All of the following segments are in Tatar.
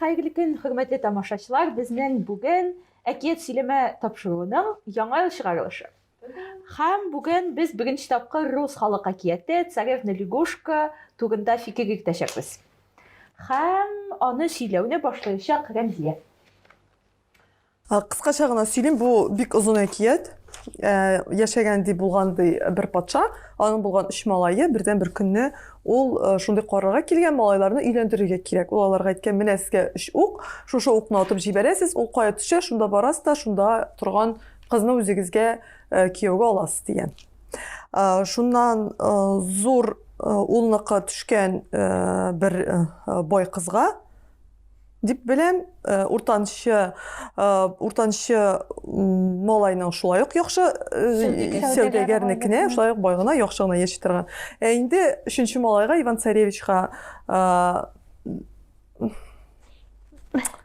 Хәерле көн, хөрмәтле тамашачылар! Безнең бүген әкият сөйләмә тапшыруының яңа ел чыгарылышы. Һәм бүген без беренче тапкыр рус халык әкияте Царевна лягушка турында фикер йөртәчәкбез. Һәм аны сөйләүне башлаячак Рәмзия. Кыскача гына сөйлим, бу бик озын әкият. Яшәгән ди булган ди бер патша, аның булган өч малае бердән бер көнне ул шундый карарга килгән, малайларны өйләндерергә кирәк. Ул аларга әйткән, менә сезгә өч ук, шушы укны атып җибәрәсез, ул кая төшә, шунда барасыз да, шунда торган кызны үзегезгә кияүгә аласыз дигән. Шуннан зур улныкы төшкән бер бай кызга, Дип беләм, э, уртанчы э, уртанчы малайның шулай ук яхшы э, сәүдәгәрнекенә, шулай ук бай гына яхшы гына яши торган. Ә инде өченче малайга Иван Царевичка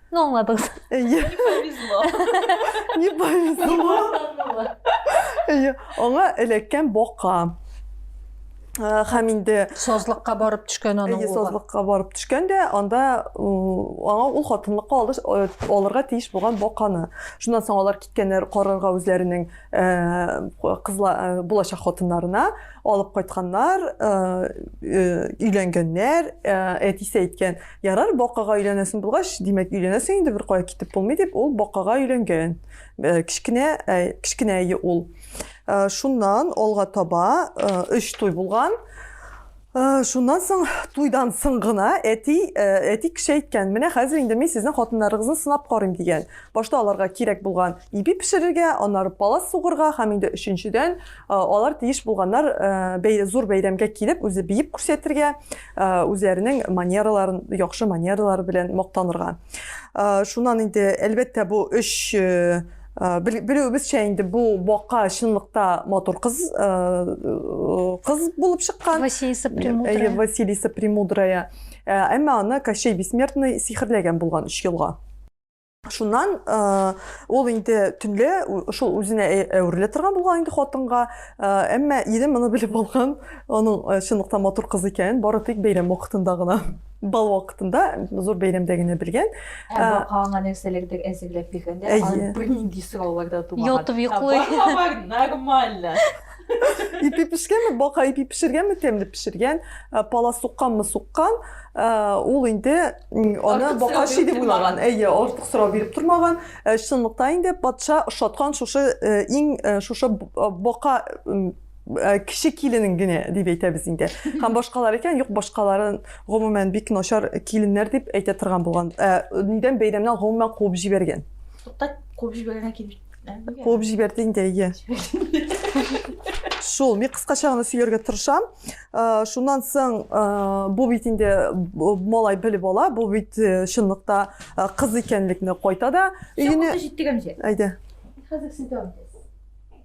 Ну, аңладыңыз. Не повезло. Не повезло. Аңа эләккән бока. һәм инде сазлыкка барып төшкән аның улы сазлыкка барып төшкән дә анда аңа ул хатынлыкка алыш, алырга тиеш булган баканы шуннан соң алар киткәннәр карарга үзләренең кызла булачак хатыннарына алып кайтканнар өйләнгәннәр әтисе әйткән ярар бакага өйләнәсең булгач димәк өйләнәсең инде беркая китеп булмый дип ул бакага өйләнгән кечкенә кечкенә ул Э, шуннан алга таба өч э, туй булган э, шуннан соң туйдан соң гына әти әти кеше әйткән менә хәзер инде мин сезнең хатыннарыгызны сынап карыйм дигән башта аларга кирәк булган ипи пешерергә аннары палас сугырга һәм инде өченчедән алар тиеш булганнар зур бәйрәмгә килеп үзе биеп күрсәтергә үзләренең манераларын яхшы манералары белән мактанырга шуннан инде әлбәттә бу өч Э, белүебезчә инде бу бака чынлыкта матур кыз э, э, кыз булып чыккан василиса премудрая василиса премудрая әмма аны кощей бессмертный сихерләгән булган өч елга шуннан ул инде төнлә шул үзенә әверелә торган булган инде хатынга әмма ире моны белеп алган аның чынлыкта матур кыз икәнен бары тик бәйрәм вакытында гына бал вакытында зур бәйрәмдә генә белгән ә бакаңа нәрсәләрдер әзерләп биргәндә аны бернинди сораулар да тумаган ятып йоклый бар нормально ипи пешкәнме бака ипи пешергәнме тәмле пешергән пала сукканмы суккан ул инде аны бака ши дип уйлаган әйе артык сорау биреп тормаган чынлыкта инде патша ошаткан шушы иң шушы бака Э, кеше киленең генә дип әйтәбез инде һәм башкалар икән юк башкаларын гомумән бик начар киленнәр дип әйтә торган булган э, нидән бәйрәмнән гомумән куып җибәргән тукта куып җибәргән килеп куып җибәрде инде әйе шул мин кыскача гына сөйләргә тырышам э, шуннан соң бу бит инде малай белеп ала бу бит чынлыкта кыз икәнлекне кайта да өенә җиттек әмҗе әйдә хәзер син дәвам итәсең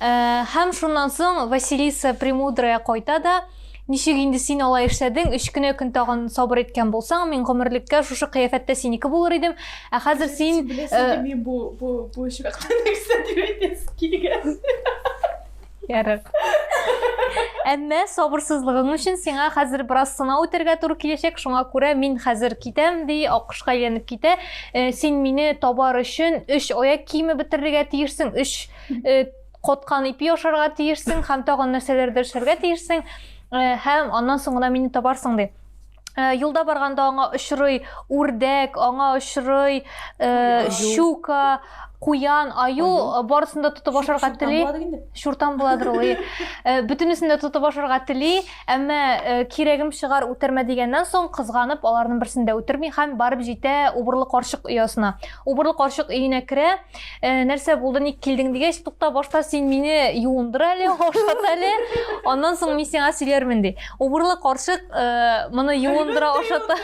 Ә, һәм шуннан соң Василиса Премудрая кайта да, Ничек инде син алай эшләдең, өч кенә көн тагын сабыр иткән булсаң, мин гомерлеккә шушы кыяфәттә синеке булыр идем. Ә хәзер син... Э, мин бу, бу, бу очракта нәрсә дип әйтәсе килгән. Ярар. Әмма сабырсызлыгың өчен сиңа хәзер бераз сынау үтәргә туры киләчәк, шуңа күрә мин хәзер китәм, ди, аккошка әйләнеп китә. Э, син мине табар өчен өч аяк киеме бетерергә тиешсең өч э, коткан ипи ашарга тиешсең һәм тагын нәрсәләрдер эшләргә тиешсең э, һәм аннан соң гына мине табарсың ди юлда барганда аңа очрый үрдәк аңа очрый щука куян аю барысын да тотып ашарга тели шуртан буладыр ул бөтенесен дә тотып ашарга тели Әмма кирәгем чыгар үтермә дигәннән соң, кызганып, аларның берсен дә үтерми һәм барып җитә убырлы карчык оясына. Убырлы карчык өенә керә, нәрсә булды, ник килдең дигәч, тукта, башта син мине юындыр әле, ашат әле, аннан соң мин сиңа сөйләрмен ди. Убырлы карчык моны юындыра, ашата.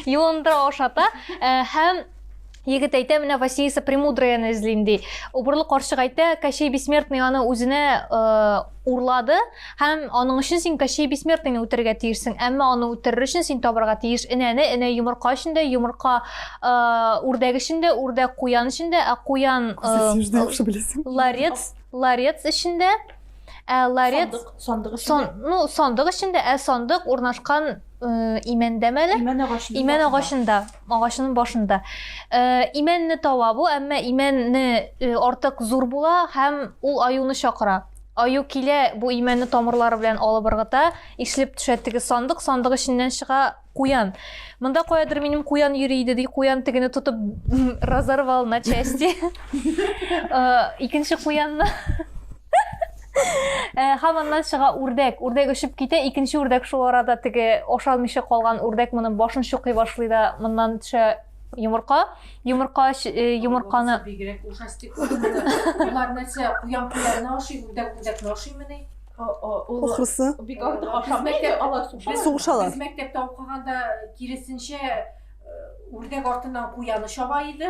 Юындыра, ашата һәм Егет әйтә, менә Василиса Премудраяны эзлим ди. Убырлы карчык әйтә, Кощей Бессмертный аны үзенә э, урлады һәм аның өчен син Кощей Бессмертныйны үтерергә тиешсең. Әмма аны үтерер өчен син табарга тиеш энәне, энә йомырка өчен дә, йомырка э, үрдәк өчен дә, үрдәк куян өчен дә, ә куян э, ларец, ларец өчен дә, ә ларец сандык, сандык, ну, сандык өчен дә, ә сандык урнашкан э, имәндә мәле? Имән агачында. Имән агачында. Агачының башында. Э, имәнне таба бу, әмма имәнне э, артык зур була һәм ул аюны чакыра. Аю килә, бу имәнне тамырлары белән алып ыргыта, ишлеп төшә теге сандык, сандык эченнән чыга куян. Монда каядыр минем куян йөри иде, ди куян тегене тотып разорвал на части. Э, икенче куянны Э, һәм аннан чыга үрдәк. Үрдәк очып китә, икенче үрдәк шул арада теге ашалмыйча калган үрдәк моның башын чукый башлый да, моннан төшә йомырка. Йомырка э, йомырканы бигрәк ужастик. Алар нәрсә, куян куянны ашый, үрдәк үрдәкне ашыймыни? Ахрысы. Бик артык ашамый. Сугышалар. Без мәктәптә укыганда киресенчә э, үрдәк артыннан куяны чаба иде.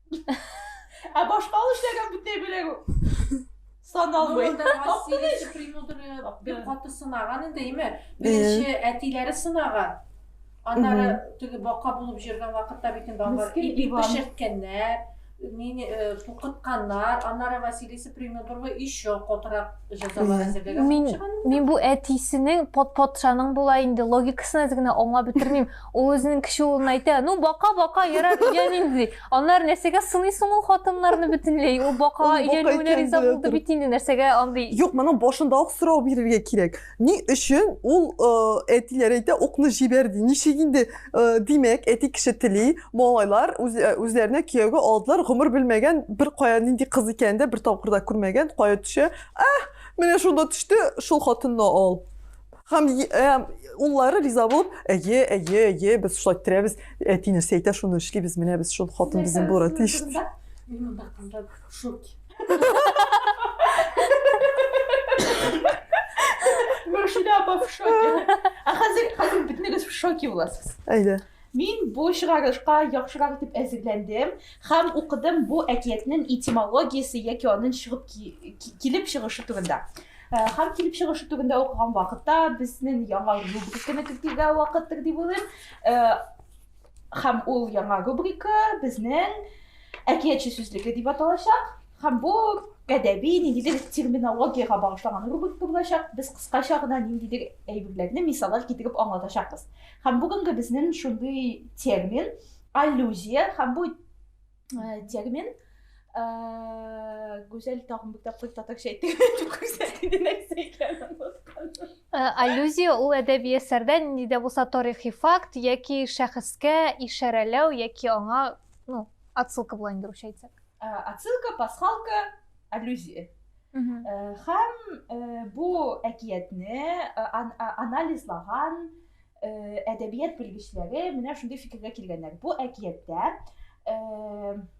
Ә башка ул эшләгән бүтәй белән саналмый. Василиса премудрая бик каты сынаган инде, име? Беренче әтиләре сынаган. Аннары теге бака булып җөргән вакытта бит инде алар ипи пешерткәннәр, мени тукытканнар. Аннары Василиса премудрая еще котырак җәзалар әзерләгән. Мин бу әтисенең патшаның була инде логикасын әз генә аңлап бетермим. Ул үзенең кече улына әйтә, ну бака бака ярар өйлән инде ди. Аннары нәрсәгә сыныйсың ул хатыннарны бөтенләй? Ул бакага Ул бака өйләнүенә икән, риза белә булды бит инде, нәрсәгә андый? Юк, моның башында ук сорау бирергә кирәк. Ни өчен ул э, әтиләр әйтә, укны җибәр ди. Ничек инде, э, димәк, әти кеше тели, малайлар үз, э, үзләренә кияүгә алдылар, гомер белмәгән, бер кая нинди кыз икәнен дә бер тапкыр да күрмәгән, кая төшә? Ах, менә шунда төште, шул хатынны ал. Һәм э, уллары риза булып, әйе, әйе, әйе, без шулай иттерәбез, әти нәрсә әйтә, шуны эшлибез, менә без шул хатын безнең булырга тиеш. Мин монда кызлар в шоке. Мөршидә апа в шоке. Ә хәзер хәзер бөтенегез в шоке буласыз. Әйдә. Мин бу чыгарышка яхшырак итеп әзерләндем һәм укыдым бу әкиятнең этимологиясе яки аның чыгып килеп чыгышы турында. Э, һәм килеп чыгышы турында укыган вакытта безнең яңа рубриканы кертергә вакыттыр дип уйлыйм. Э, һәм ул яңа рубрика безнең әкиятче сүзлеге дип аталачак. Һәм бу гадәби ниндидер терминологиягә багышланган рубрика булачак. Без кыскача гына ниндидер әйберләрне мисаллар китереп аңлатачакбыз. Һәм бүгенге безнең шундый термин аллюзия һәм бу э, термин э, Гүзәл тагын бер тапкыр татарча әйтте. Күрсәтте нәрсә икәнен узганда. Э, аллюзия ул әдәби әсәрдә нинди дә булса тарихи факт яки шәхескә ишарәләү яки аңа, ну, отсылка була инде русча әйтсәк. Отсылка, пасхалка, аллюзия. Хәм бу әкиятне анализлаган әдәбият белгечләре менә шундый фикергә килгәннәр. Бу әкияттә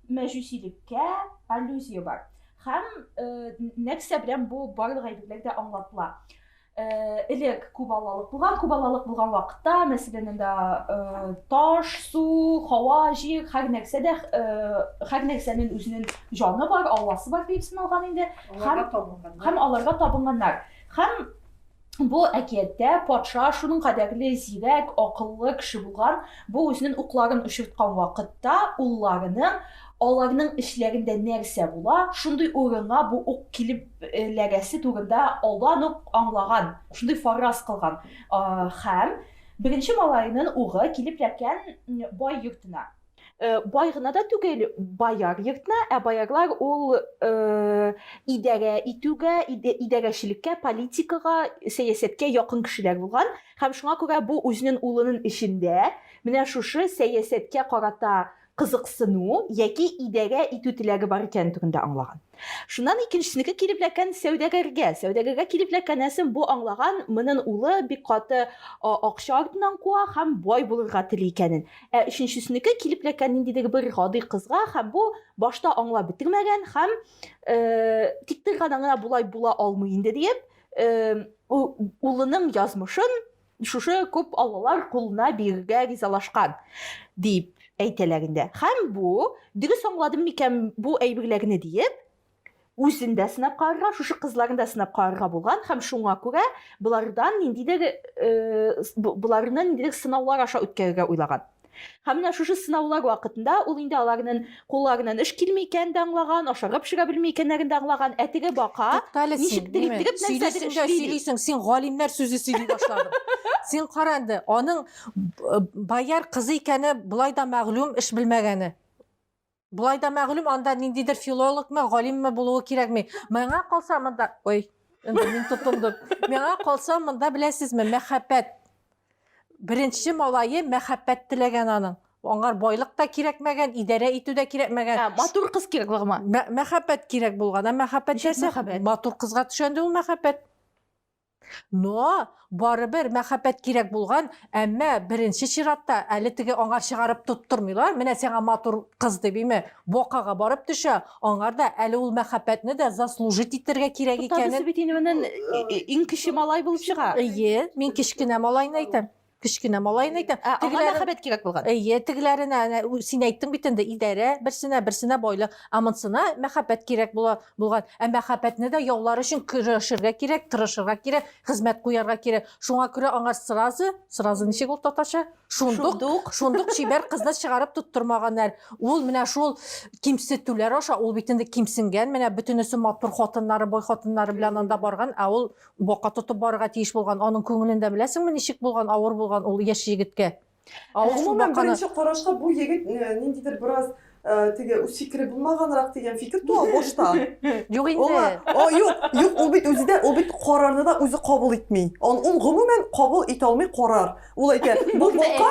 мәҗүсилеккә аллюзия бар. Хәм нәрсә белән бу барлык әйберләр дә аңлатыла. Э, элек күп аллалык булган күп аллалык булган вакытта мәсәлән анда э, таш су һава җир һәр нәрсә дә э, һәр нәрсәнең үзенең җаны бар алласы бар дип саналган инде һәм һәм аларга табынганнар һәм бу әкияттә патша шуның кадәрле зирәк акыллы кеше булган бу үзенең укларын очырткан вакытта улларының Аларның эчләрендә нәрсә була, шундый урынга бу ук килеп эләгәсе турында алдан ук аңлаган, шундый фарраз кылган һәм беренче малаенын угы килеп эләккән бай йортына. Бай гына да түгел, бояр йортына, ә боярлар ул идарә итүгә, идарәчелеккә, политикага, сәясәткә якын кешеләр булган һәм шуңа күрә бу үзенен улынын эчендә менә шушы сәясәткә карата кызыксыну яки идарә итү теләге бар икәне турында аңлаган. Шуннан икенчесенеке килеп эләккән сәүдәгәргә. Сәүдәгәргә килеп эләккәнәсен бу аңлаган, монын улы бик каты акча артыннан куа һәм бай булырга тели икәнен. Ә өченчесенеке килеп эләккән ниндидер бер гади кызга һәм бу башта аңлап бетермәгән һәм тик бер гана гына болай була алмый инде диеп, улының язмышын Шушы күп аллалар кулына бирергә ризалашкан, диеп әйтәләр инде. Һәм бу, дөрес аңладым микән бу әйберләрне диеп, үзен дә сынап карарга, шушы кызларны да сынап карарга булган һәм шуңа күрә болардан ниндидер, боларны ниндидер сынаулар аша үткәрергә уйлаган. Һәм менә шушы сынаулар вакытында ул инде аларның кулларыннан эш килми икәнен дә аңлаган, ашарга пешерә белми икәннәрен дә аңлаган, ә теге бака Туктале син, ничектер ниме? иттереп нәрсәдер Сөйлисең дә эшли ди. сөйлисең, син галимнәр сүзе сөйли башладың. Син кара инде, аның б- бояр кызы икәне болай да мәгълүм, эш белмәгәне. Болай да мәгълүм, анда ниндидер филологмы, галимме булуы кирәкми. Миңа калса монда, ой, инде мин тотындым. Миңа калса монда беләсезме, мәхәббәт. Беренче малае мәхәббәт теләгән аның. Аңар байлык та кирәкмәгән, идарә итү дә кирәкмәгән. Ә, матур кыз кирәк булган. Мәхәббәт кирәк булган. Ә мәхәббәт нәрсә? Матур кызга төшәнде ул мәхәббәт. Но, барыбер мәхәббәт кирәк булган, әмма беренче чиратта әле теге аңар чыгарып тоттырмыйлар, менә сиңа матур кыз дип име, бакага барып төшә, аңар да әле ул мәхәббәтне дә заслужить итәргә кирәк икәнен. Туктагыз бит инде моннан иң кече малай булып чыга. Әйе, мин кечкенә малайны әйтәм. кечкенә малаен әйтәм. Ә, аңа Тегеләрен- мәхәббәт кирәк булган. Әйе, тегеләренә әнә, ү- син әйттең бит инде, идарә берсенә, берсенә байлык, ә монсына мәхәббәт кирәк була булган. Ә мәхәббәтне дә яулар өчен көрәшергә кирәк, тырышырга кирәк, хезмәт куярга кирәк. Шуңа күрә аңар сразу, сразу ничек ул татарча? Шундук, Шундук. шундук чибәр кызны чыгарып тоттырмаганнар. Ул менә шул кимсетүләр аша, ул бит инде кимсенгән, менә бөтенесе матур хатыннары, бай хатыннары белән анда барган, ә ул Бака тотып барырга тиеш булган, аның күңелен дә беләсеңме, ничек булган, авыр булган ул яшь егеткә. Ә ул шул баканы... Беренче карашка бу егет ниндидер бераз Э, теге үз фикере булмаганрак дигән фикер туа башта юк инде юк юк ул бит үзе дә ул бит карарны да үзе кабул итми ул гомумән кабул итә алмый карар Ул әйтә, бу бока,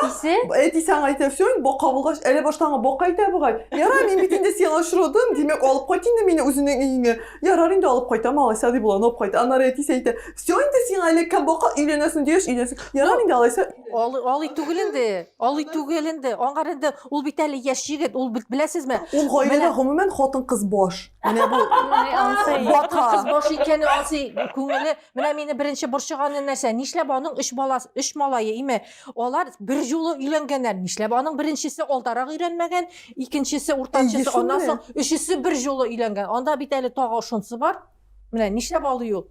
әтисе аңа әйтә, все, бока булгач, әле башта аңа бока әйтә бугай. Ярар, мин бит инде сиңа очырдым, димәк, алып кайт инде мине үзенең өеңә. Ярар инде алып кайта, малайса дип болан алып кайта. Аннары әтисе әйтә, все, инде сиңа әле кем бока өйләнәсең дигәч, өйләнсең. Ярар инде алайса. Алый, алый түгел инде. Алый түгел инде. Аңар инде ул бит әле яшь егет, ул бит беләсезме? Ул гаиләдә гомумән хатын-кыз баш. Менә бу. Хатын-кыз баш икәне ансый күңеле Менә мине беренче борчыганы нәрсә? Нишләп аның өч баласы, өч малае, име? Алар бер юлы өйләнгәннәр. Нишләп аның беренчесе алдарак өйрәнмәгән, икенчесе, уртанчысы, аннан соң өчесе бер юлы өйләнгән. Анда бит әле тагы шунсы бар. Менә нишләп алый ул?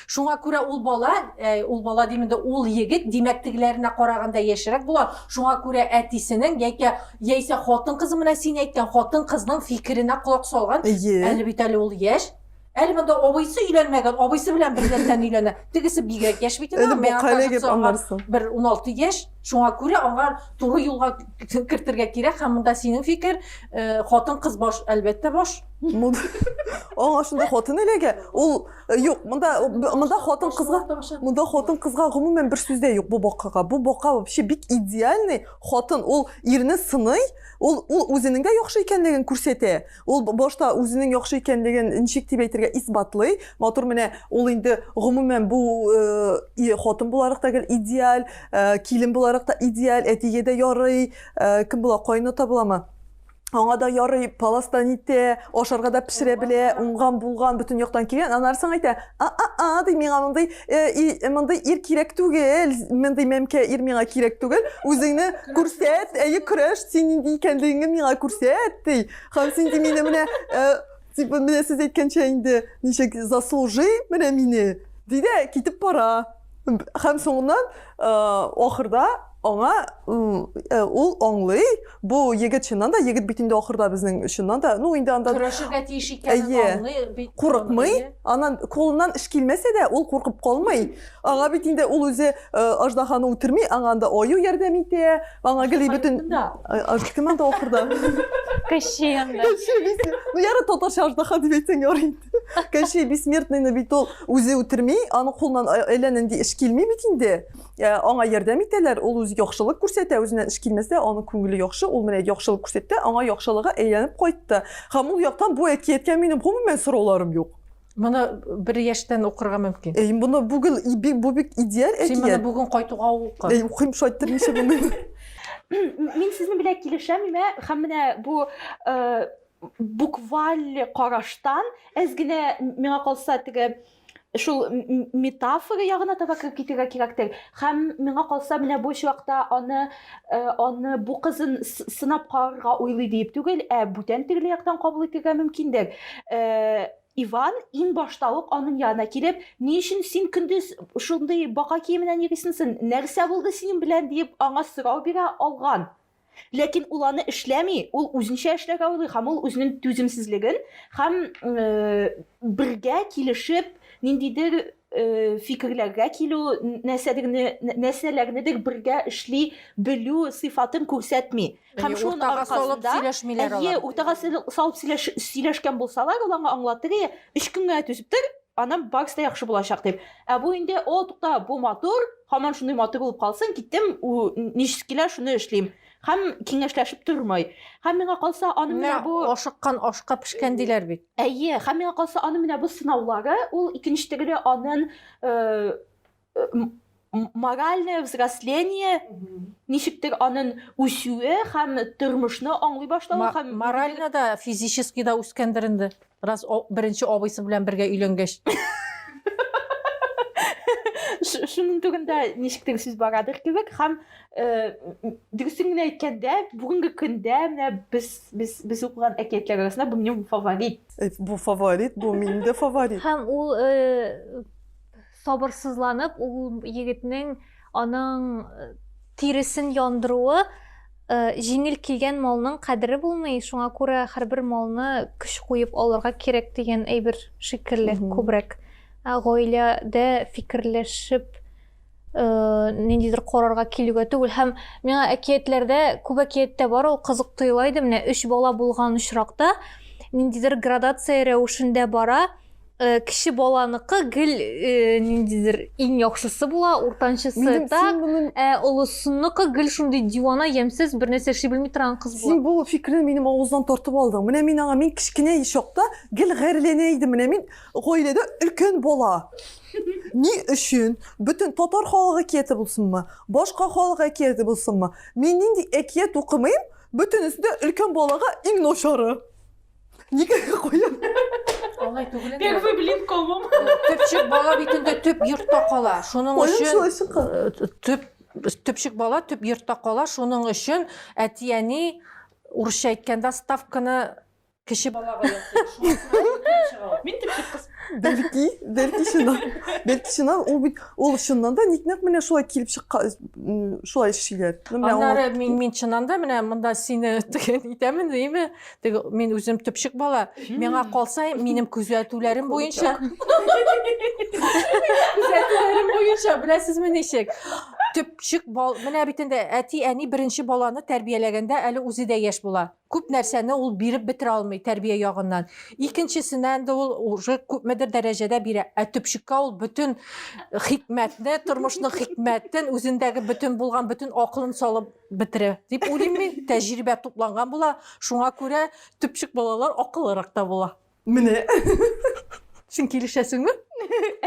Шуңа күрә ул бала, э, ул бала дим инде, ул егет димәк тегеләренә караганда яшьрәк була. Шуңа күрә әтисенең яки яисә хатын-кыз менә син әйткән хатын-кызның фикеренә колак салган. Әле бит әле ул яшь. Әле монда абыйсы өйләнмәгән, абыйсы белән бердән өйләнә. Тегесе бигрәк яшь бит инде. Бу кале дип аңларсың. Бер 16 яшь, шуңа күрә аңа туры юлга кертергә кирәк һәм монда синең фикер, э, хатын кыз баш, әлбәттә баш. Аңа шунда хатын эләгә. Ул э, юк, монда монда хатын кызга, монда хатын кызга гомумән бер сүз дә юк бу бакага. Бу бака вообще бик идеальный хатын. Ул ирне сыный, ул ул үзенең дә яхшы икәнлеген күрсәтә. Ул башта үзенең яхшы икәнлеген ничек дип әйтергә исбатлый. Матур менә ул инде гомумән бу э, хатын буларак та идеаль, э, килен буларак та идеаль, әтигә дә ярый, э, кем була, кайната буламы? Аңа да ярый, паластан итә, ашарга да пешерә белә, уңган булган, бөтен яктан килгән. Аннары соң әйтә, а-а-а ди миңа мондый э, мондый ир кирәк түгел мондый мәмкә ир миңа кирәк түгел үзеңне күрсәт әйе көрәш син нинди икәнлегеңне миңа күрсәт ди һәм син ди мине менә э, типа менә сез әйткәнчә инде ничек заслужи менә мине ди дә китеп бара Һәм соңыннан э, ахырда аңа э, ул аңлый, бу егет чыннан да, егет бит инде ахырда безнең чыннан да, ну инде анда көрәшергә тиеш икәнен аңлый, курыкмый, анан кулыннан эш килмәсә дә, ул куркып калмый. Аңа бит инде ул үзе э, аждаханы үтерми, аңа анда аю ярдәм итә, аңа гели бөтен кем анда ахырда? Кеше анда. Ну яры татарча аждаха дип әйтсәң ярый. Кәши бессмертныйны бит ул үзе үтерми, аны кулыннан әллә нинди эш килми бит инде. Э, аңа ярдәм итәләр, ул үзе яхшылык күрсәтә, үзеннән эш килмәсә, аның күңеле яхшы, ул менә яхшылык күрсәтте, аңа яхшылыгы әйләнеп кайтты. Һәм ул яктан бу әкияткә минем гомумән сорауларым юк. Моны бер яшьтән укырга мөмкин. Эй, моны бүген бу бик идеаль әкият. Син моны бүген кайтуга укы. Эй, укыйм шайтыр ничә бүген. Мин сезнең белән килешәм, һәм менә бу э, букваль караштан әз генә миңа калса теге шул метафора ягына таба кереп китергә кирәктер һәм миңа калса менә бу чакта аны э, аны бу кызын сынап карарга уйлый диеп түгел ә бүтән төрле яктан кабул итергә мөмкиндер э, Иван ин башта ук аның янына килеп, ни өчен син көндез шундый бака киеменнән йөрисеңсен? Нәрсә булды синең белән дип аңа сорау бирә алган. Ләкин ул аны эшләми, ул үзенчә эшләргә уйлый һәм ул үзенең түземсезлеген һәм бергә килешеп ниндидер фикерләргә килү, нәрсәләрнедер бергә эшли белү сыйфатын күрсәтми. Һәм шуның аркасында, әйе, уртага салып сөйләшкән булсалар, ул аңа аңлатыр, әйе, өч көнгә түзеп тор, аннан барысы да яхшы булачак дип. Ә бу инде, о, тукта, бу матур, Һаман шундый матур булып калсын, киттем, ничек килә, шуны эшлим. Һәм киңәшләшеп тормый. Һәм миңа калса, аны менә бу ашыккан ашка пешкән диләр бит. Әйе, һәм миңа калса, аны менә бу сынаулары, ул икенче тегеле анын э, э, моральное взросление ничектер анын үсүе һәм тормышны аңлый башлавы һәм морально да физически да үскәндер инде Раз о, беренче абыйсы белән бергә өйләнгәч. Ш- Шуның түгендә ничектер сүз барадыр кебек һәм э, м- дөресен генә әйткәндә, бүгенге көндә менә без без без укыган әкиятләр арасында бу минем фаворит. Э, Бу фаворит, бу минем дә фаворит. Һәм ул э, Сабырсызланып ул егетнең аның э, тиресен яндыруы э, җиңел килгән малның кадере булмый, шуңа күрә һәрбер малны көч куеп алырга кирәк дигән әйбер шикелле күбрәк. Ә гаиләдә фикерләшеп э, ниндидер карарга килүгә түгел һәм миңа әкиятләрдә күп әкияттә бар ул кызык тоела иде менә өч бала булган очракта ниндидер градация рәвешендә бара Э, кеше баланыкы гел э, ниндидер иң яхшысы була уртанчысы Минем так син ә олысыныкы гел шундый дивана ямьсез бер нәрсә эшли белми торган кыз була син бул фикерне минем авыздан тартып алдың менә мин аңа мин кечкенә чакта гел гарьләнә идем менә мин гаиләдә өлкән бала ни өчен бөтен татар халык әкияте булсынмы башка халык әкияте булсынмы мин нинди әкият укымыйм бөтенесе дә өлкән балага иң начары Никогда куям. Алай түгел инде. Первый блин комом. Төпчек бала бит инде төп йортта кала. Шуның өчен төп төпчек бала төп йортта кала. Шуның өчен әти-әни урысча әйткәндә ставканы кеше балага ясый. Мин төпчек кыз. Бәлки, бәлки шуннан. Бәлки шуннан ул бит ул чыннан да ник нәкъ менә шулай килеп чыккан, шулай эшлиләр. Аннары мин мин чыннан да менә монда сине теген итәмен, димме? Теге мин үзем төпчек бала, миңа калса, минем күзәтүләрем буенча. Күзәтүләрем буенча, беләсезме ничек? Төпчек бал, менә бит инде әти, әни беренче баланы тәрбияләгәндә әле үзе дә яшь була. Күп нәрсәне ул биреп бетерә алмый тәрбия ягыннан. Икенчесенә инде ул уже күпмедер дәрәҗәдә бирә. Ә төпчеккә ул бөтен хикмәтне, тормышның хикмәтен, үзендәге бөтен булган бөтен акылын салып бетерә дип уйлыйм мин тәҗрибә тупланган була шуңа күрә төпчек балалар акыллырак та була менә син килешәсеңме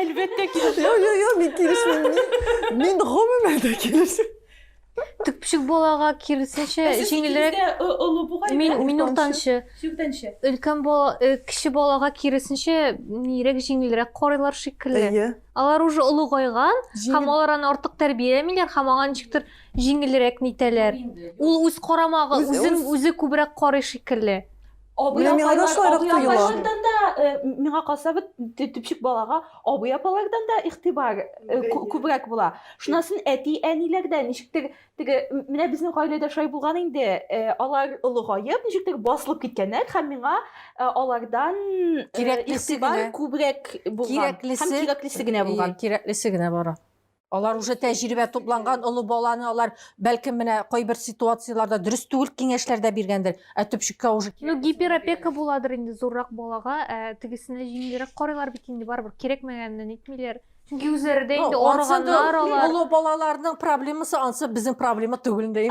әлбәттә килешәм юк юк юк мин килешмим мин гомумән дә килешмим төпчек балага киресенчә җиңелрәк олы бугай мин мин уртанчы сүктәнче өлкән бала э, кече балага киресенчә нирәк җиңелрәк карыйлар шикелле алар уже олыгайган һәм алар аны артык тәрбияләмиләр һәм аңа ничектер Җиңелрәк нитәләр. Ул үз карамагы, Үз- үзен үз- үзе күбрәк карый шикелле. Абый Менә миңа да апайлар, шулайрак абый тоела. апайлардан да, э, миңа калса бит т- төпчек балага абый апалардан да игътибар э, кү- күбрәк була. Шуннан соң әти әниләр дә ничектер теге м- менә безнең гаиләдә шулай булган инде. Э, Алар олыгаеп, ничектер басылып киткәннәр һәм миңа э, алардан э, Кирәклесе игътибар генә. күбрәк булган һәм Кирәклесе- кирәклесе генә булган. Кирәклесе генә бара. Алар уже тәҗрибә тупланган олы баланы алар бәлкем менә кайбер ситуацияләрдә дөрес түгел киңәшләрдә биргәндер. Ә төпчеккә уже Ну гиперопека буладыр инде зуррак балага, ә тегесенә җиңелрәк карыйлар бит инде барыбер кирәкмәгәнне нитмиләр. Чөнки үзләре дә инде арыганнар алар. Олы балаларның проблемасы ансы безнең проблема түгел инде.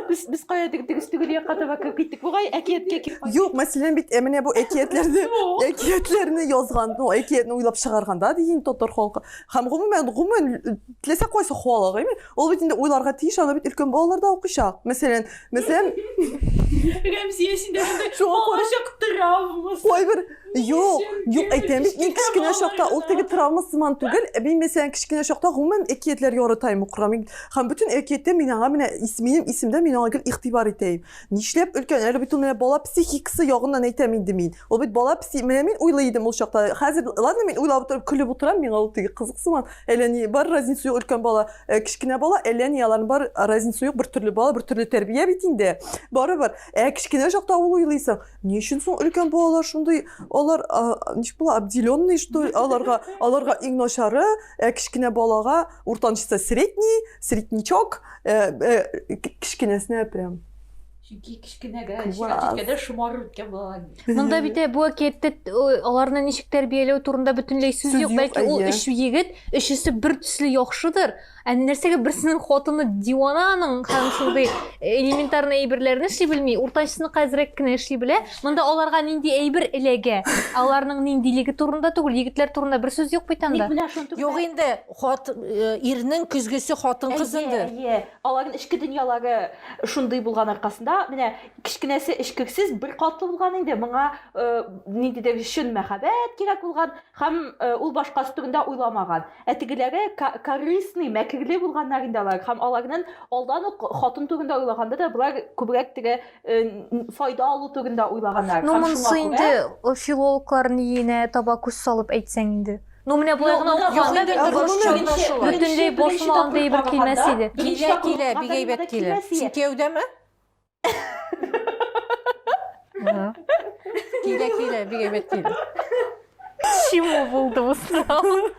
Без без кая дигез түгел якка таба киттек. Бугай әкияткә кире кайт. Юк, мәсәлән бит ә менә бу әкиятләрне, әкиятләрне язган, ну, әкиятне уйлап чыгарганда ди инде татар халкы. Һәм гомумән, гомумән теләсә кайсы халык, әйме? Ул бит инде уйларга тиеш, аны бит өлкән балалар да укыйчак. Мәсәлән, мәсәлән, Рәмзия син дә монда Шуңа күрә- балачак травмасы. кайбер Юк, юк, әйтәм бит, мин кечкенә чакта ул теге травма сыман түгел. Ә Мин мәсәлән кечкенә чакта гомумән әкиятләр яратаем укырга. Мин һәм бөтен әкияттә мин аңа менә ис- минем исемдә мин аңа гел игътибар итәем. Нишләп өлкән? Әле бит ул менә бала психикасы ягыннан әйтәм инде мин. Ул бит бала пси, менә мин уйлый идем ул чакта. Хәзер, ладно, мин уйлап утырып, көлеп утырам, миңа ул теге кызык сыман. Әллә ни бар разница юк өлкән бала, э, кечкенә бала, әллә ни аларның бар разница юк, бер төрле бала, бер төрле тәрбия бит инде. Барыбер. Ә кечкенә чакта ул уйлыйсың, ни өчен соң өлкән балалар шундый, алар а, ничек була, обделенный, что ли, аларга, аларга иң начары, ә кечкенә балага Уртанчысы средний, среднячок, э, э, кечкенәсенә прям Чөнки кечкенәгә җиткәндә шомарып үткән балалар. Монда бит бу әкиятте аларны ничек тәрбияләү турында бөтенләй сүз юк. Бәлки ул өч егет, өчесе бер төсле яхшыдыр. Ә нәрсәгә берсенең хатыны дивананың һәм шундый элементарный әйберләрне эшли белми, уртанчысының хәзрәк кенә эшли белә. Монда аларга нинди әйбер эләгә? Аларның ниндилеге турында түгел, егетләр турында бер сүз юк бит анда. Юк инде, хат э, ирнең көзгесе хатын кызындыр. Әйе, аларның эчке дөньялары шундый булган аркасында, менә кечкенәсе эчкерсез бер катлы булган инде, моңа э, ниндидер чын мәхәббәт кирәк булган һәм э, ул башкасы турында уйламаган. Ә тегеләре ка- корыстный, мәкерле булганнар инде алар һәм аларның алдан ук хатын турында уйлаганда да болар күбрәк теге файда алу турында уйлаганнар. Ну, монсы инде филологлар ниенә таба күз салып әйтсәң инде. Ну, менә болай гына укыганда бер русча бөтенләй бошма андый бер килмәс иде. Килә, килә, бик әйбәт килә. Син кияүдәме? Килә, килә, бик әйбәт килә. Чему булды бу сорау?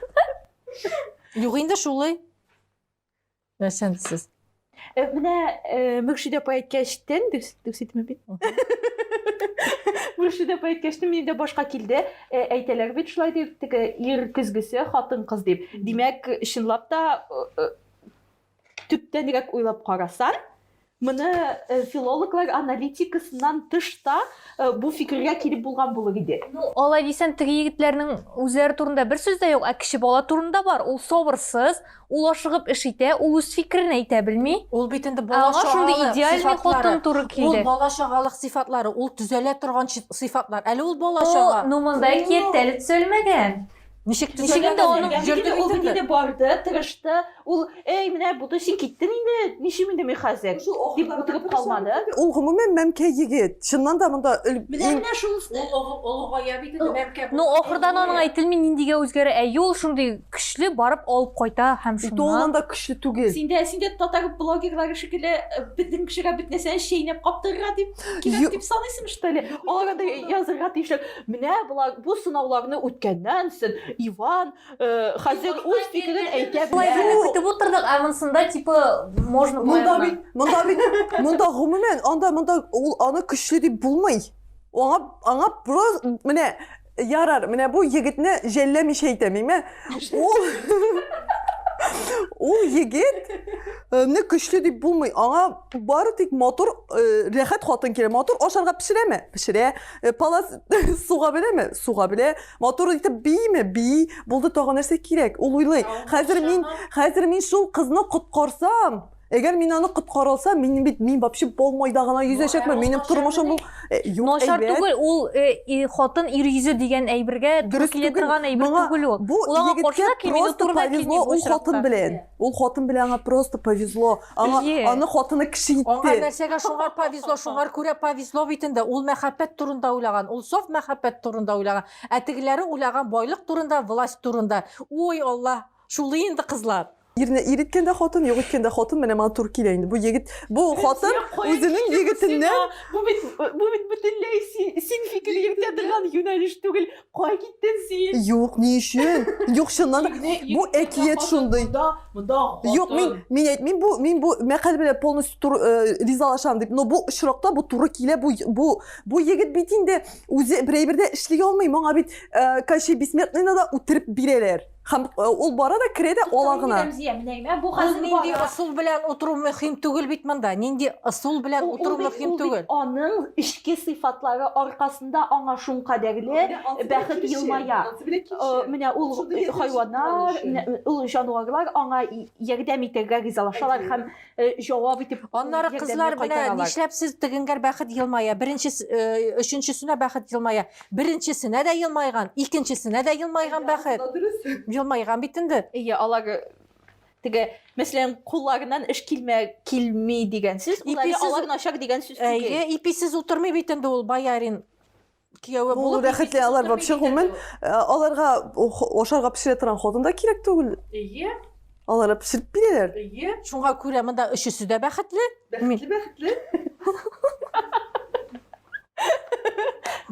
Юк инде шулай. Нәрсән сез? Э, менә э, Мөршидә апа әйткәчтен, дөрес дөрес әйтәме бит? Мөршидә апа әйткәчтен мине дә башка килде. Э, әйтәләр бит шулай дип, теге ир көзгесе, хатын кыз дип. Димәк, чынлап та э, э, төптәнрәк уйлап карасаң, Моны филологлар аналитикасыннан тыш та бу фикергә килеп булган булыр иде. Ну, алай дисәң, теге егетләрнең үзләре турында бер сүз дә юк, ә кече бала турында бар. Ул сабырсыз, ул ашыгып эш итә, ул үз фикерен әйтә белми. Ул бит инде бала чагалык сыйфатлары. Ул бала чагалык сыйфатлары, ул төзәлә торган сыйфатлар. Әле ул бала чага. Ну, монда әкият тә әле төзәлмәгән. Ничек төзәгән аны? Җөрде ул бит инде барды, тырышты. Ул, "Эй, менә булды, син киттең инде. Ничим инде мин хәзер?" дип утырып калмады. Ул гомумән мәмкә егет. Чыннан да монда Менә менә шул олыгая бит инде мәмкә. Ну, ахырдан аның әйтелми ниндигә үзгәрә. Әйе, ул шундый көчле, барып алып кайта һәм шуннан. Ул аннан да көчле түгел. Синдә, синдә татар блогерлары шикелле безнең кешегә бөтнәсен чәйнәп каптырырга дип кирәк дип саныйсың, что ли? Алар анда язырга тиешләр. Менә болар бу сынауларны үткәннән сон Иван э, хәзер үз фикерен әйтә Болай белә. дип көтеп утырдык, ә монсында типа можно болай Монда гына. бит, монда бит, монда гомумән, анда монда ул аны көчле дип булмый. Аңа аңа просто менә ярар, менә бу егетне жәлләмичә әйтәм, әйме? Ул Ул егетне көчле дип булмый. Аңа бары тик матур, э, рәхәт хатын кирәк. Матур ашарга пешерәме? Пешерә. Э, палас суга беләме? Суга белә. Матур итеп бийме? Бий. Булды тагы нәрсә кирәк? Ул уйлый. Хәзер мин, хәзер мин шул кызны коткарсам, Әгәр мин аны коткара алсам, мин бит мин вообще болмайда гына йөзәчәкмен. Минем тормышым бу э, юк Начар түгел, ул э, хатын ир йөзе дигән әйбергә дөрес килә торган әйбер түгел ул. Бу егеткә просто повезло ул хатын белән. Ул хатын белән аңа просто повезло. Аңа, Ие. аны хатыны кеше итте. Аңа нәрсәгә шуңар повезло, шуңар күрә повезло бит инде. Ул мәхәббәт турында уйлаган, ул саф мәхәббәт турында уйлаган. Ә тегеләре уйлаган байлык турында, власть турында. Ой, Алла, шулый инде кызлар. Ирне ир иткәндә хатын, юк иткәндә хатын, менә моңа туры килә инде. Бу егет, бу хатын үзенең егетеннән Бу бит бу бит бөтенләй син син фикер йөртә торган юнәлеш түгел. Кай киттен син? Юк, ни өчен? Юк, чыннан да. Бу әкият шундый. Юк, мин мин әйтмим, бу мин бу мәкаль белән полностью тур э, ризалашам дип. Но бу очракта бу туры килә. Бу бу бу егет бит инде үзе берәйбердә эшли алмый. Моңа бит э, Кощей Бессмертныйны да үтереп бирәләр. Хәм э, ул бара да керә дә ала гына. Рәмзия, менә генә бу хәзер нинди ысул белән утыру мөһим түгел бит монда. Нинди ысул белән утыру мөһим түгел. Аның эчке сыйфатлары аркасында аңа шун кадәрле бәхет елмая. Менә ул хайваннар, ул җанварлар аңа ярдәм итәргә ризалашалар һәм э, җавап итеп аннары кызлар менә нишләп сез тегенгәр бәхет елмая беренче э, өченчесенә бәхет елмая беренчесенә дә елмайган икенчесенә дә елмайган бәхет елмайган бит инде иә алар теге мәсәлән кулларыннан эш килмә килми дигән сүз иписез алар начар дигән сүз түгел иписез утырмый бит инде ул боярин кияүе булып. Бу рәхәтле алар вообще гомумән э, аларга ашарга пешерә торган хатын да кирәк түгел. Әйе. Алар пешереп бирәләр. Әйе. Шуңа күрә монда өчесе дә бәхетле. Бәхетле, бәхетле.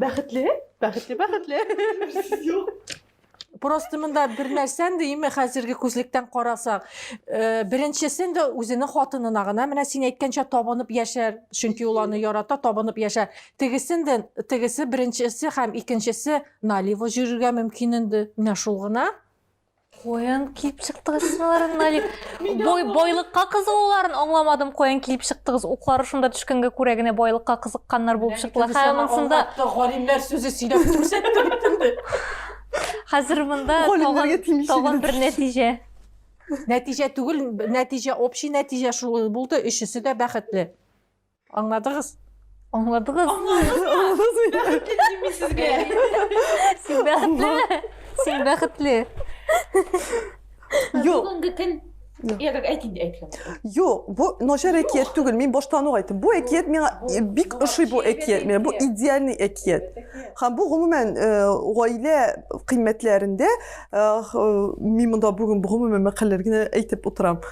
Бәхетле, бәхетле, бәхетле. Юк. Просто монда бер нәрсән дейме хәзерге күзлектән карасак, э, беренчесен дә үзенең хатынына гына менә син әйткәнчә табынып яшәр, чөнки ул аны ярата, табынып яшәр. Тегесен дә тегесе беренчесе һәм икенчесе налево йөрергә мөмкин инде. Менә шул гына. Куян киеп чыктыгыз син аларны, Налик. Бой, бойлыкка кызыгуларын аңламадым, каян килеп чыктыгыз. Уклары шунда төшкәнгә күрә генә бойлыкка кызыкканнар булып чыктылар. Хәзер монсында галимнәр сүзе сөйләп күрсәтте битемне. Хәзер монда тагын бер нәтиҗә. Нәтиҗә түгел, нәтиҗә общий нәтиҗә шул булды. Өчесе дә бәхетле. Аңладыгыз? Аңладыгыз? Сезгә. Син бәхетле. Син бәхетле. Юк. Бүгенге көн Я как әйтин дә әйтсәм. Юк, бу начар әкият түгел. Мин баштан ук әйттем. Бу әкият миңа бик ошый бу әкият. Менә бу идеальный әкият. Һәм бу гомумән гаилә кыйммәтләрендә мин монда бүген гомумән мәкаләләр генә әйтеп утырам.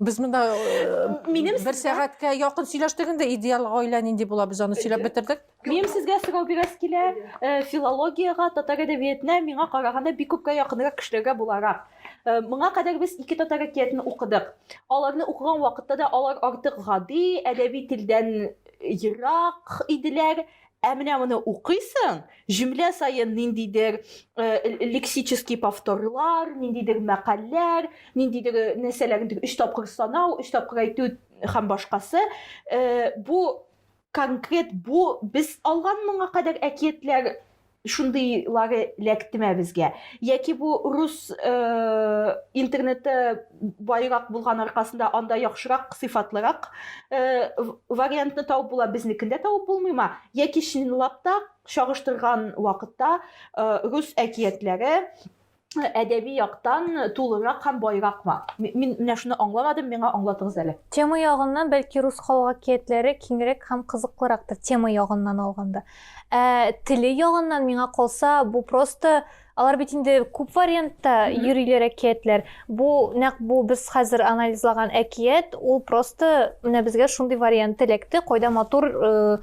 Без монда минем бер сәгатькә якын сөйләштек инде, идеал гаилә нинди була, без аны сөйләп бетердек. Минем сезгә сорау бирәс килә, э, филологиягә, татар әдәбиятына миңа караганда бик күпкә якынрак кешеләргә буларак. Э, моңа кадәр без ике татар әкиятен укыдык. Аларны укыган вакытта да алар артык гади, әдәби телдән ерак иделәр. Ә менә моны укыйсың, җөмлә саен ниндидер лексический повторлар, ниндидер мәкальләр, ниндидер нәрсәләрне тик өч тапкыр санау, өч тапкыр әйтү һәм башкасы. Бу конкрет бу без алган моңа кадәр әкиятләр шундыйлары эләктеме безгә? Яки бу рус интернеты байрак булган аркасында анда яхшырак сыйфатлырак э, вариантны табып була безнекендә табып булмыйма яки чынлап та чагыштырган вакытта э, рус әкиятләре э, әдәби яктан тулырак һәм байракмы мин менә шуны аңламадым миңа аңлатыгыз әле тема ягыннан бәлки рус халык әкиятләре киңрәк һәм кызыклырактыр тема ягыннан алганда ә, теле ягыннан миңа калса бу просто Алар бит инде күп вариантта йөриләр әкиятләр. Бу нәкъ бу без хәзер анализлаган әкият, ул просто менә безгә шундый вариант эләкте, кайда матур э,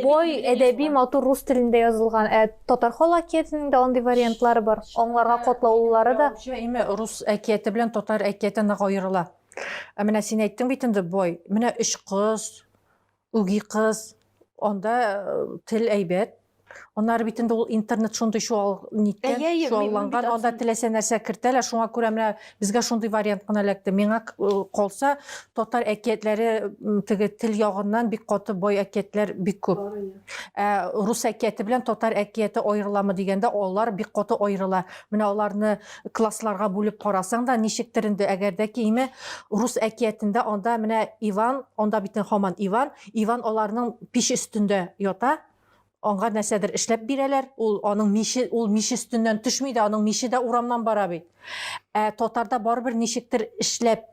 бой әдәби матур рус телендә язылган. Ә татар халык әкиятенең дә андый вариантлары бар. Аңларга котлаулылары да. Җәйме рус әкияте белән татар әкияте нык аерыла. Ә менә син әйттең бит инде бой. Менә өч кыз, Үги кыз, анда тел әйбәт. Аннары бит инде ул интернет шундый чуал ниткән, Әйе, әйе, чуалланган, мин- мин анда теләсә нәрсә кертәләр, шуңа күрә менә безгә шундый вариант кына эләкте. Миңа к- э, калса, татар әкиятләре м, теге тел ягыннан бик каты бай әкиятләр бик күп. Ә рус әкияте белән татар әкияте аерыламы дигәндә, алар бик каты аерыла. Менә аларны классларга бүлеп карасаң да ничектер инде әгәр дә киеме рус әкиятендә анда менә иван анда бит хаман иван иван аларның пич өстендә ята аңа нәрсәдер эшләп бирәләр ул аның мише ул мич өстеннән төшми дә аның мише дә урамнан бара бит ә татарда барыбер ничектер эшләп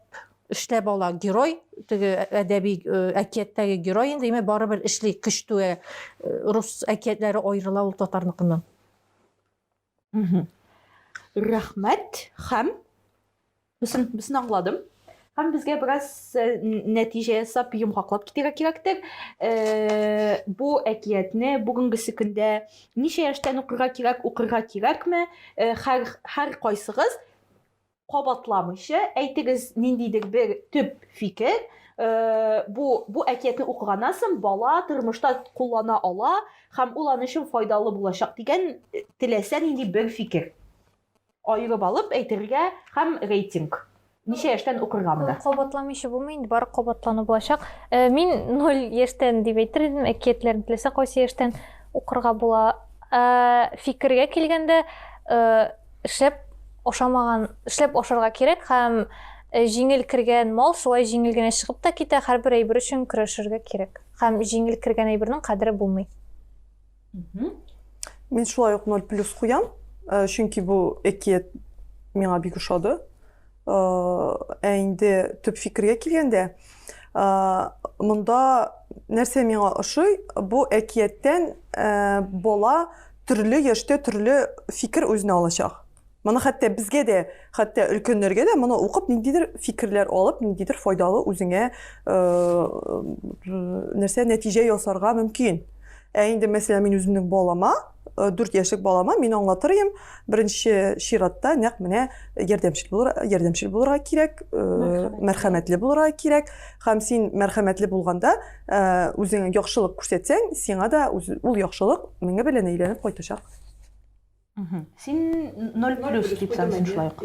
эшләп ала герой теге әдәби э, әкияттәге герой инде имә барыбер эшли көч түгә э, рус әкиятләре аерыла ул татарныкыннан Рәхмәт һәм Бесен, бесен аңладым. Һәм безгә бераз э, нәтиҗә ясап, йомгаклап китергә кирәктер. Э, бу әкиятне бүгенгесе көндә ничә яшьтән укырга кирәк, укырга кирәкме? Э, һәр һәр кайсыгыз кабатламыйча әйтегез ниндидер бер төп фикер э, бу бу әкиятне укыганнан соң бала тормышта куллана ала һәм ул аны өчен файдалы булачак дигән э, теләсә нинди бер фикер аерып алып әйтергә һәм рейтинг ничә яшьтән укырга монда кабатламыйча булмый инде бары кабатлану булачак э, мин ноль яшьтән дип әйтер идем әкиятләрне теләсә кайсы яшьтән укырга була фикергә килгәндә Эшләп ашамаган, эшләп ашарга кирәк һәм э, җиңел кергән мал шулай җиңел генә чыгып та китә, һәрбер әйбер өчен көрәшергә кирәк. Һәм җиңел кергән әйбернең кадере булмый. Мин шулай ук 0 плюс куям, э, чөнки бу әкият миңа бик ошады. Ә инде төп фикергә килгәндә, монда нәрсә миңа ошый, бу әкияттән бала төрле яшьтә төрле фикер үзенә алачак. Моны хәтта безгә дә, хәтта өлкәннәргә дә моны укып ниндидер фикерләр алып, ниндидер файдалы үзеңә э, нәрсә нәтиҗә ясарга мөмкин. Ә инде мәсәлән мин үземнең балама Э, дүрт яшьлек балама мин аңлатыр идем беренче чиратта нәкъ менә ярдәмчел булыр ярдәмчел булырга кирәк э, мәрхәмәтле булырга кирәк һәм син мәрхәмәтле булганда э, үзеңә яхшылык күрсәтсәң сиңа да ул яхшылык меңе белән әйләнеп кайтачак син ноль плюс дип саныйсың шулай ук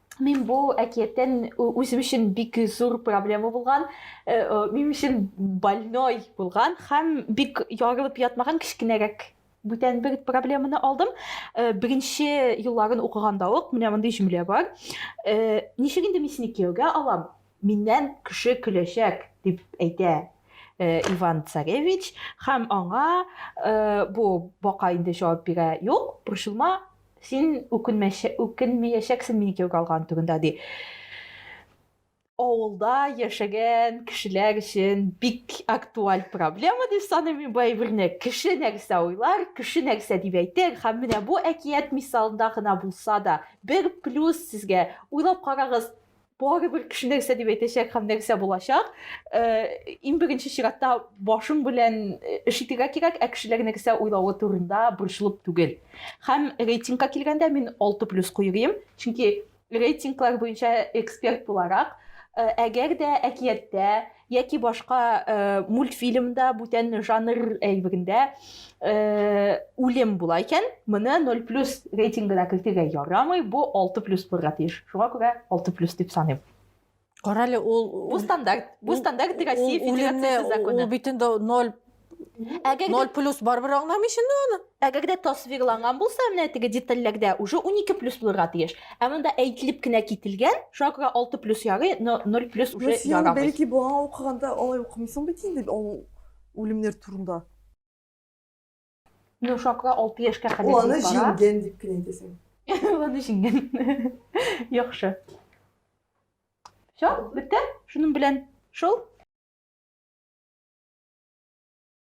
Мин бу әкияттән үзем өчен бик зур проблема булган, э, минем өчен больной булган һәм бик ярылып ятмаган кечкенәрәк бүтән бер проблеманы алдым. Э, беренче елларын укыганда ук менә мондый җөмлә бар. Э, ничек инде мин сине кияүгә алам? Миннән кеше көләчәк дип әйтә Иван Царевич һәм аңа бу бака инде җавап бирә. Юк, борчылма, Син үкенмәячәксең мине кияүгә алган түгендә, ди. Авылда яшәгән кешеләр өчен бик актуаль проблема дип саныйм мин бу әйберне. Кеше нәрсә уйлар, кеше нәрсә дип әйтер, һәм менә бу әкият мисалында гына булса да, бер плюс сезгә. Уйлап карагыз, барыбер кеше нәрсә дип әйтәчәк һәм нәрсә булачак. Э, иң беренче чиратта башың белән э, эш итәргә кирәк, ә кешеләр нәрсә уйлавы турында борчылып түгел. Һәм рейтингка килгәндә мин 6 плюс куйрыйм, чөнки рейтинглар буенча эксперт буларак, э, әгәр дә әкияттә яки башка мультфильмда бүтән жанр әйбегендә үлем була икән моны ноль плюс рейтингына кертергә ярамый бу алты плюс булырга тиеш шуңа күрә алты плюс дип саныйм Карале ул бу стандарт бу стандарт россия федерациясе законы ул бит инде ноль 0 плюс барыбер аңламый инде аны. Әгәр дә тасвирланган булса, менә теге детальләрдә уже 12 плюс булырга тиеш. Ә монда әйтелеп кенә кителгән, шуңа күрә 6 плюс ярый, 0 плюс уже ярамый. Бәлки буган укыганда алай укымыйсың бит инде ул үлемнәр турында. Ну, шуңа күрә 6 яшькә кадәр бара. Аны җиңгән дип кенә әйтәсең. Аны җиңгән. Яхшы. Все, бетте. Шуның белән шул.